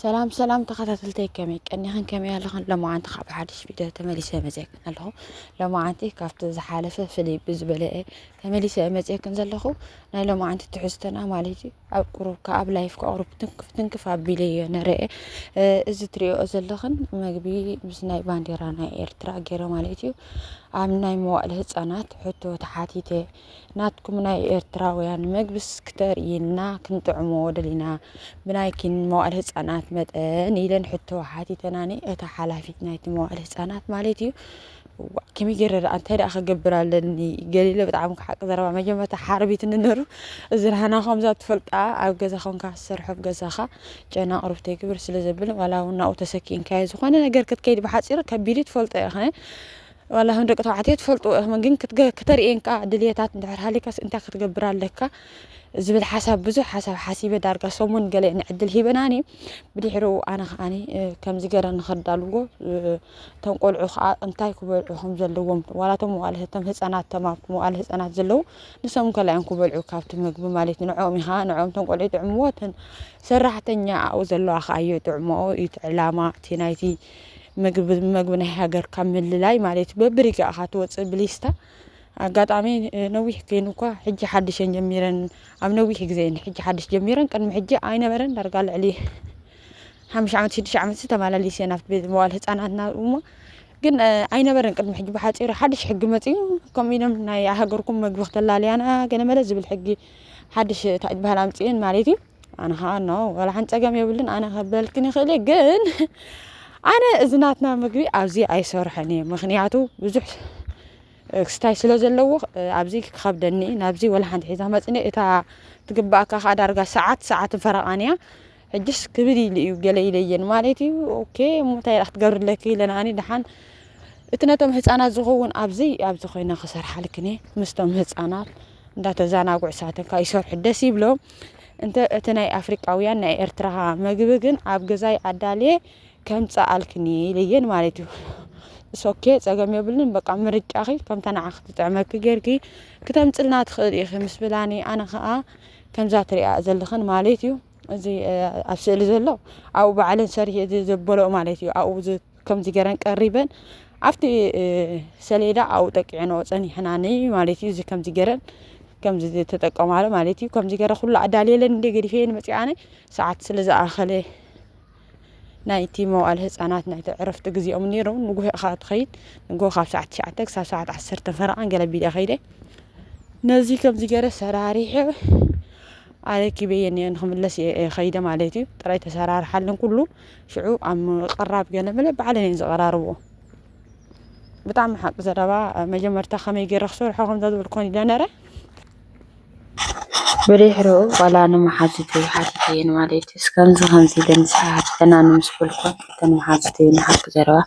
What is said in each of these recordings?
ሰላም ሰላም ተኸታተልተይ ከመይ ቀኒኽን ከመይ ኣለኽን ሎማዓንቲ ካብ ሓድሽ ቪድዮ ተመሊሰ መፅክን ኣለኹ ሎማዓንቲ ካብቲ ዝሓለፈ ፍልይ ብዝበለ ተመሊሰ መፅክን ዘለኹ ናይ ሎማዓንቲ ትሕዝተና ማለት እዩ ኣብ ቁሩብ ከኣብ ላይፍ ከቕሩብ ትንክፍ ትንክፍ ኣቢለ እየ ንርአ እዚ ትሪኦ ዘለኽን መግቢ ምስ ናይ ባንዴራ ናይ ኤርትራ ገይረ ማለት እዩ ኣብ ናይ መዋእለ ህፃናት ሕቶ ተሓቲተ ናትኩም ናይ ኤርትራውያን መግብስ ክተርእይና ክንጥዕሞ ደሊና ብናይኪን መዋእለ ህጻናት መጠን ኢለን ሕቶ ሓቲተናኒ እታ ሓላፊት ናይቲ መዋእለ ህጻናት ማለት እዩ ከመይ ገይረ ደኣ እንታይ ደኣ ክገብር ኣለኒ ገሊለ ብጣዕሚ ክሓቂ ዘረባ መጀመርታ ሓርቢት ንነሩ እዚ ራህና ከምዛ ትፈልጣ ኣብ ገዛ ኮንካ ዝሰርሖ ኣብ ገዛኻ ጨና ቅርብ ተይግብር ስለ ዘብል ዋላ እውን ናብኡ ተሰኪእንካዮ ዝኾነ ነገር ክትከይድ ብሓፂሩ ከቢድ ትፈልጦ ኢኸ ዋላ ከም ደቂ ተባዕትዮ ትፈልጥዎ ኢኹም ግን ክተርእየን ከዓ ድልየታት እንድሕር ሃሊካስ እንታይ ክትገብር ኣለካ ዝብል ሓሳብ ብዙሕ ሓሳብ ሓሲበ ዳርጋ ሰሙን ገለ ንዕድል ሂበናኒ ብድሕሪኡ ኣነ ከዓኒ ከምዚ ገረ ንኸዳልዎ እቶም ቆልዑ ከዓ እንታይ ክበልዑ ከም ዘለዎም ዋላ እቶም መዋእለ እቶም ህፃናት ተማ መዋእለ ህፃናት ዘለዉ ንሶም ከላይ እዮም ክበልዑ ካብቲ ምግቢ ማለት እዩ ንዕኦም ኢኻ ንዕኦም እቶም ቆልዑ ይጥዕምዎ እተን ሰራሕተኛ ኣብኡ ዘለዋ ከዓ እዮ ይጥዕምኦ እዩ እቲ ዕላማ እቲ ናይቲ ምግቢ መግቢ ናይ ሃገርካ ምልላይ ማለት እዩ በብሪጋ ኢኻ ትወፅእ ብሊስታ ኣጋጣሚ ነዊሕ ኮይኑ እኳ ሕጂ ሓድሽ እየን ጀሚረን ኣብ ነዊሕ ግዜ እየን ሕጂ ሓድሽ ጀሚረን ቅድሚ ሕጂ ኣይነበረን ዳርጋ ልዕሊ ሓሙሽ ዓመት ሽዱሽተ ዓመት ተመላሊስ እየን ኣብቲ ቤት መዋል ህፃናትና እሞ ግን እ፣ ኣይነበረን ቅድሚ ሕጂ ብሓፂሩ ሓድሽ ሕጊ መፅዩ ከምኡ ኢሎም ናይ ሃገርኩም መግቢ ክተላለያና ገለመለ ዝብል ሕጊ ሓድሽ እንታይ ዝበሃል ኣምፅኤን ማለት እዩ ኣነ ኸዓ ኖ ወላሓንቲ ፀገም የብሉን ኣነ ክበልክን ይኽእል እየ ግን ኣነ እዚ ናትና ምግቢ ኣብዚ ኣይሰርሖን እየ ምኽንያቱ ብዙሕ ክስታይ ስለ ዘለዎ ኣብዚ ክኸብደኒ እዩ ናብዚ ወላ ሓንቲ ሒዛ መፂእኒ እታ ትግበኣካ ኸዓ ዳርጋ ሰዓት ሰዓትን ፈረቓን እያ ሕጅስ ክብድ ኢሉ እዩ ገለ ኢለየን ማለት እዩ ኦኬ እሞ እንታይ ደኣ ክትገብርለኪ ኢለን ኣነ ደሓን እቲ ነቶም ህፃናት ዝኸውን ኣብዚ ኣብዚ ኮይነ ክሰርሓልክን እየ ምስቶም ህፃናት እንዳተዛናግዑ ሳትን ካኣ ይሰርሑ ደስ ይብሎም እንተ እቲ ናይ ኣፍሪቃውያን ናይ ኤርትራ መግቢ ግን ኣብ ገዛይ ኣዳልየ ከምጽኣልክኒ ኢለየን ማለት እዩ ሶኬ ጸገም የብሉን በቃ ምርጫኺ ከምታ ንዓኺ ትጥዕመኪ ጌርኪ ክተምጽልና ትኽእሊ ኢኺ ምስ ብላኒ ኣነ ከኣ ከምዛ ትሪኣ ዘለኽን ማለት እዩ እዚ ኣብ ስእሊ ዘሎ ኣብኡ ባዕለን ሰሪሔ ዘበለኦ ማለት እዩ ኣብኡ ከምዚ ገረን ቀሪበን ኣብቲ ሰሌዳ ኣብኡ ጠቂዕንኦ ጸኒሕናኒ ማለት እዩ እዚ ከምዚ ገረን ከምዚ ተጠቀማሉ ማለት እዩ ከምዚ ገረ ኩሉ ኣዳልየለን እንደ ገዲፈየን መፅኣ ኣነ ሰዓት ስለ ዝኣኸለ ናይቲ መዋእለ ህፃናት ናይቲ ዕረፍቲ ግዜኦም ነይሩ ንጉሆ ኢኻ ትኸይድ ንጉሆ ካብ ሰዓት ትሽዓተ ክሳብ ሰዓት ዓሰርተ ፈረቓን ገለ ቢለ ከይደ ነዚ ከምዚ ገረ ሰራሪሐ ኣረኪበየን እየ ንክምለስ እየ ከይደ ማለት እዩ ጥራይ ተሰራርሓለን ኩሉ ሽዑ ኣብ ምቕራብ ገለመለ ባዕለን እየን ዝቐራርብዎ ብጣዕሚ ሓቂ ዘረባ መጀመርታ ከመይ ገይረ ክሰርሖ ከምዛ ዝብል ኮን ኢለ ነረ ብድሕሪኡ ዋላ ንመሓዙቱ ይሓትት እየን ማለት እዩ እስከምዚ ከምዚ ኢለን ዝሓትተና ንምስ በልኩን እተን መሓዙቱ እየን ሓቂ ዘረባ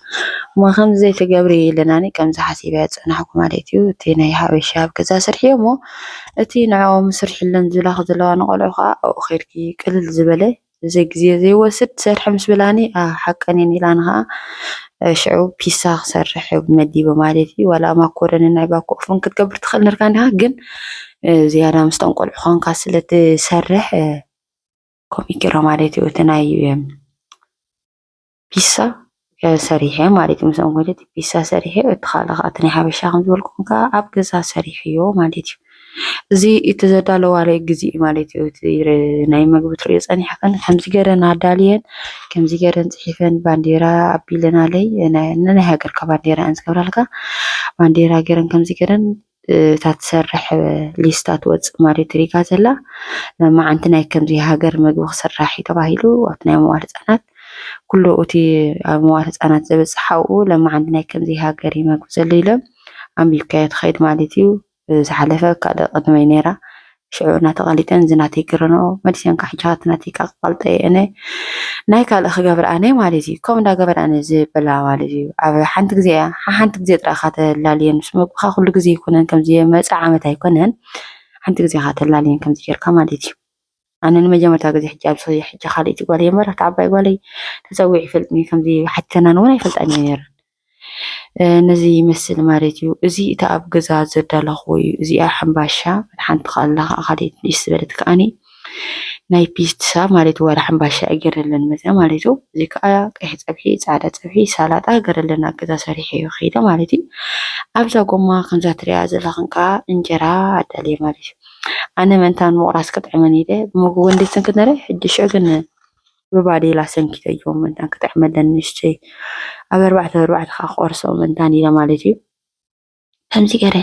እሞ ከምዚ ዘይትገብሪ ኢለናኒ ከምዚ ሓሲበ ፀናሕኩ ማለት እዩ እቲ ናይ ሓበሻ ኣብ ገዛ ስርሒ እሞ እቲ ንዕኦም ስርሒለን ዝብላኺ ዘለዋ ንቆልዑ ከዓ ኣብኡ ከይድኪ ቅልል ዝበለ እዚ ግዜ ዘይወስድ ትሰርሒ ምስ በላኒ ኣህ ሓቀን እየን ኢላ ኣነ ከኣ ሽዑ ፒሳ ክሰርሕ መዲበ ማለት እዩ ዋላ ማኮረኒ ናይ ባኮ ኦፍን ክትገብር ትኽእል ነርካ እንዲኻ ግን ዝያዳ ምስቶም ቆልዑ ኾንካ ስለ ትሰርሕ ከምኡ ገይራ ማለት እዩ እቲ ናይ ፒሳ ሰሪሐ ማለት ምስ እንጎደት ፒሳ ሰሪሐ እቲ ካልእ ከዓ እቲ ናይ ሓበሻ ከም ዝበልኩም ከዓ ኣብ ገዛ ሰሪሐዮ ማለት እዩ። እዚ እቲ ዘዳለዋለይ ግዜ ማለት እዩ። እቲ ናይ ምግቢ ትሪኦ ፀኒሕክን ከምዚ ገይረን ኣዳልየን ከምዚ ገይረን ፅሒፈን ባንዴራ ኣቢለናለይ ነናይ ሃገርካ ባንዴራ እየን ዝገብራልካ ባንዴራ ገይረን ከምዚ ገይረን እታ ትሰርሕ ሊስታ ትወፅእ ማሪዮ ትሪጋ ዘላ መማዓንቲ ናይ ከምዚ ሃገር መግቢ ክስራሕ እዩ ተባሂሉ ኣብቲ ናይ መዋል ህፃናት ኩሉ እቲ ኣብ መዋል ህፃናት ዘበፅሕ ሓውኡ ለማዓንቲ ናይ ከምዚ ሃገር እዩ መግቢ ዘሎ ኢሎም ኣንቢብካዮ ትኸይድ ማለት እዩ ዝሓለፈ ካልእ ቅድመይ ነይራ ሽዑ እናተቓሊጠን እዚ ናተይ ክረንኦ መሊሰን ክሕጅኻ እቲ ናተይ ከኣ ክቐልጠዮ እነ ናይ ካልእ ክገብር ኣነ ማለት እዩ ከምኡ እንዳገበራ እነ ዝበላ ማለት እዩ ኣብ ሓንቲ ግዜ እያ ሓንቲ ግዜ ጥራይ እኻ ተላልየን ምስ መግብኻ ኩሉ ግዜ ኣይኮነን ከምዚ መጻእ ዓመት ኣይኮነን ሓንቲ ግዜ እኻ ተላልየን ከምዚ ጌርካ ማለት እዩ ኣነ ንመጀመርታ ግዜ ሕጂ ኣብ ሕጂ ካልእቲ ጓል የመራ እቲ ዓባይ ጓለይ ተጸዊዑ ይፈልጥኒ ከምዚ ሓቲተናን እውን ኣይፈልጣን እየ ነይረን ነዚ ይመስል ማለት እዩ እዚ እታ ኣብ ገዛ ዘዳለኽዎ እዩ እዚኣ ሕምባሻ ሓንቲ ካላ ከዓ ካልኦት ንእስ ዝበለት ከዓኒ ናይ ፒትሳ ማለት ዋላ ሕምባሻ እዩ ገረለን መፅያ ማለት እዩ እዚ ከዓ ቀይሕ ፀብሒ ፃዕዳ ፀብሒ ሳላጣ ገረለን ኣብ ገዛ ሰሪሐ እዩ ከይደ ማለት እዩ ኣብዛ ጎማ ከምዛ ትሪኣ ዘለኽን ከዓ እንጀራ ኣዳልየ ማለት እዩ ኣነ መንታን ምቑራስ ክጥዕመን ኢለ ብመጎጎ እንዴት ክንክነረ ሕጂ ሽዑ ግን ብባዴላ ሰንኪተዮ መታን ክጥዕመለን ንእሽተይ ኣብ ኣርባዕተ ብኣርባዕተ ከኣ ክቖርሶ መታን ኢለ ማለት እዩ። ከምዚ ገይረ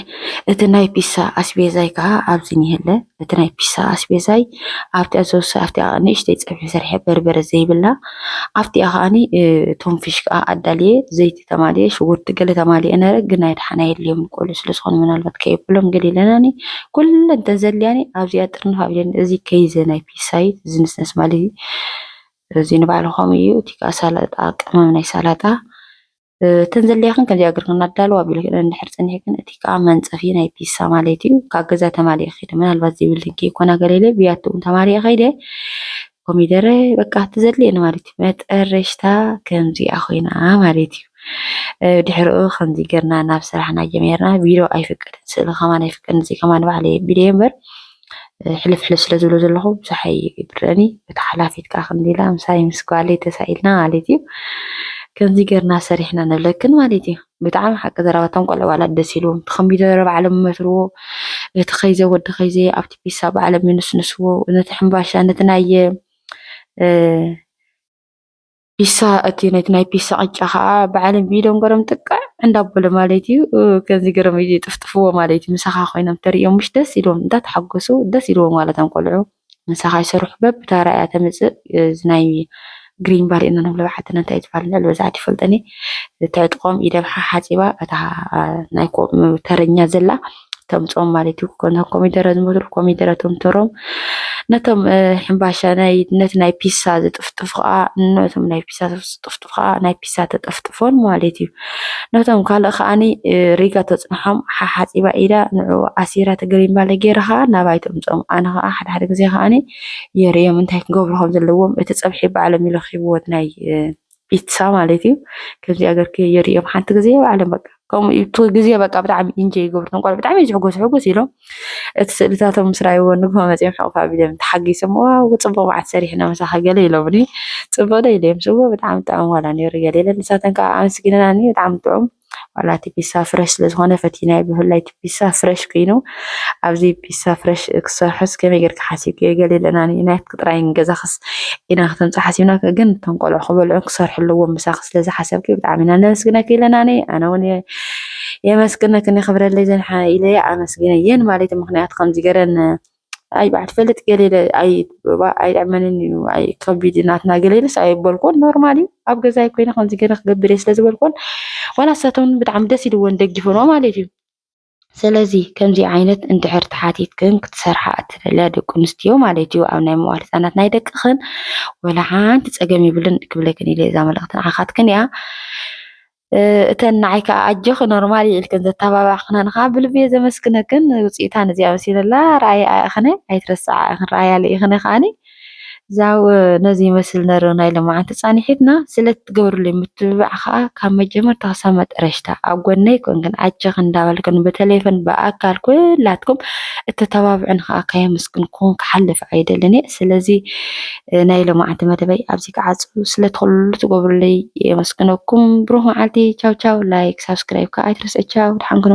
እቲ ናይ ፒሳ ኣስቤዛይ ከዓ ኣብዚ እኒሀለ እቲ ናይ ፒሳ ኣስቤዛይ ኣብቲኣ ዘውሰ ኣብቲኣ ንእሽተይ ፀብሒ ሰርሐ በርበረ ዘይብላ ኣብቲኣ ከዓኒ እቶም ፊሽ ከዓ ኣዳልየ ዘይቲ ተማልየ ሽጉርቲ ገለ ተማልየ ነረ ግን ናይ ደሓና የድልዮም ቆልዑ ስለ ዝኾኑ ምናልባት ከየብሎም ገለ ኢለናኒ ኩለን ተዘልያኒ ኣብዚኣ ጥርንፍ ኣቢለን እዚ ከይዘ ናይ ቢሳይት ዝንስነስ ማለት እዩ። እዚ ንባዕሉ ከምኡ እዩ እቲ ከዓ ሳላጣ ቅመም ናይ ሳላጣ እተን ዘድልያክን ከምዚኣ ገርክን ኣዳልዋ ቢልክን እንድሕር ፀኒሕክን እቲ ከዓ መንፀፊ ናይ ፒሳ ማለት እዩ ካብ ገዛ ተማሊእ ከይደ ምናልባት ዘይብልክን ከይኮና ገለለ ብያቲ እውን ተማሊእ ከይደ ኮሚደረ በቃ እቲ ዘድልየኒ ማለት እዩ መጠረሽታ ከምዚኣ ኮይና ማለት እዩ ድሕሪኡ ከምዚ ገርና ናብ ስራሕና ጀሚርና ቢሮ ኣይፍቀድን ስእሊ ከማን ኣይፍቀድን እዚ ከማን ባዕለየ ቢለየ እምበር ሕልፍ ሕልፍ ስለ ዝብሎ ዘለኹ ብዙሕ ኣይብረኒ በታ ሓላፊት ከዓ ከምዚ ኢላ ምሳይ ምስ ጓለይ ተሳኢልና ማለት እዩ ከምዚ ገርና ሰሪሕና ንብለክን ማለት እዩ ብጣዕሚ ሓቂ ዘረባቶም ቆልዑ ዋላ ደስ ኢልዎም እቲ ኮምፒተር ባዕሎም ይመትርዎ እቲ ከይዘ ወዲ ከይዘ ኣብቲ ፒሳ ባዕሎም ይንስንስዎ ነቲ ሕምባሻ ነቲ ናይ ፒሳ እቲ ነቲ ናይ ፒሳ ቅጫ ከኣ ባዕሎም ብኢዶም ገሮም ጥቅዕ እንዳበሉ ማለት እዩ ከምዚ ገሮም ይጥፍጥፍዎ ማለት እዩ ምሳኻ ኮይኖም ተርእዮም ምሽ ደስ ኢልዎም እንዳተሓጎሱ ደስ ኢልዎም ማለት ኣም ቆልዑ ምሳኻ ይሰርሑ በብታራ እያ ተምጽእ እዚ ናይ ግሪን ባሪ እና ንብሎ ሓትና እንታይ ትባል ልዕሊ በዛዕት ይፈልጠኒ ተዕጥቆም ኢደም ሓሓጺባ እታ ናይ ተረኛ ዘላ እቶም ጾም ማለት እዩ ኮነ ኮሚደረ ዝመስሉ ኮሚደረ እቶም ተሮም ነቶም ሕምባሻ ናይ ነቲ ናይ ፒሳ ዝጥፍጥፉ ከዓ ነቶም ናይ ፒሳ ዝጥፍጥፉ ከዓ ናይ ፒሳ ተጠፍጥፎን ማለት እዩ ነቶም ካልእ ከዓኒ ሪጋ ተፅንሖም ሓሓፂባ ኢዳ ንዑ ኣሲራ ተገሪም ባለ ገይረ ከዓ ናባይ ተምፅኦም ኣነ ከዓ ሓደ ሓደ ግዜ ከዓኒ የርእዮም እንታይ ክገብሩ ከም ዘለዎም እቲ ፀብሒ ባዕሎም ይለኪብዎት ናይ ፒትሳ ማለት እዩ ከምዚ ገርክ የርእዮም ሓንቲ ግዜ ባዕሎም በቃ ከምኡ እቲ ግዜ በቃ ብጣዕሚ ኢንጆይ ይገብሩ እቶም ቆልዑ ብጣዕሚ ዝሕጎሱ ሕጉስ ኢሎም እቲ ስእልታቶም ምስ ረኣይዎ ንግሆ መፂኦም ሕቕፍ ኣቢሎም ተሓጊሶም ዋው ፅቡቕ መዓት ሰሪሕና ምሳኺ ገለ ኢሎምኒ ፅቡቕ ዶ ኢለዮም ስብዎ ብጣዕሚ ጥዑም ዋላ ነይሩ ገለ ኢለ ንሳተን ከዓ ኣመስጊነናኒ ብጣዕሚ ጥዑም ዋላ እቲ ፒሳ ፍረሽ ስለዝኾነ ፈቲናዮ ብፍላይ እቲ ፒሳ ፍረሽ ኮይኑ ኣብዚ ፒሳ ፍረሽ ክሰርሖስ ከመይ ጌርካ ሓሲብክዮ ገለ ኢለና ንዩናይት ጥራይ ንገዛኽስ ኢና ክተምጽእ ሓሲብና ግን እቶም ቆልዑ ክበልዑ ክሰርሑ ኣለዎም ምሳኺ ስለዝሓሰብኪ ብጣዕሚ ኢና ነመስግነኪ ኢለናኒ ኣነ እውን የመስግነክን የኽብረለይ ዘንሓ ኢለየ ኣመስግነየን ማለት ምክንያቱ ከምዚ ገረን ኣይ ባዕድ ፈልጥ ገሌለ ኣይ ኣይዕመንን እዩ ኣይ ከቢድ ናትና ገሌለስ ኣይበልኮን ኖርማሊ ኣብ ገዛይ ኮይነ ከምዚ ገለ ክገብር እየ ስለዝበልኮን ዋላ ሰተን ብጣዕሚ ደስ ኢልዎን ደጊፈኖ ማለት እዩ ስለዚ ከምዚ ዓይነት እንድሕር ተሓቲትክን ክትሰርሓ እትደልያ ደቂ ኣንስትዮ ማለት እዩ ኣብ ናይ መዋል ህፃናት ናይ ደቅኽን ወላ ሓንቲ ፀገም ይብልን ክብለክን ኢለ እዛ መልእኽቲ ንዓኻትክን እያ እተን ንዓይ ከኣ ኣጆኺ ኖርማል እዩ ኢልክን ዘተባባዕክናን ከኣ ብልቢ እየ ዘመስግነክን። ውጽኢታ ነዚኣ መሲለላ ረኣይኣ ኢኽነ ኣይትረስዓ ኢኽን ረኣያለ ኢኽነ ከኣኒ እዛው ነዚ ይመስል ነሩ ናይ ልምዓት ጻኒሒትና ስለትገብርልይ ምትብባዕ ከኣ ካብ መጀመርታ ክሳብ መጠረሽታ ኣብ ጎነይ ኮንክን ኣጆኺ እንዳበልክን ብተሌፎን ብኣካል ኩላትኩም እተተባብዑን ከኣ ከየመስግንኩም ክሓልፍ ኣይደልን እየ። ስለዚ ናይ ሎማዓንቲ መደበይ ኣብዚ ክዓጹ ስለ ትኽሉ ትገብሩለይ የመስግነኩም ብሩኽ መዓልቲ ቻው ቻው ላይክ ሳብስክራይብ ከኣ ኣይትረስዕ ቻው ድሓን ኩኑ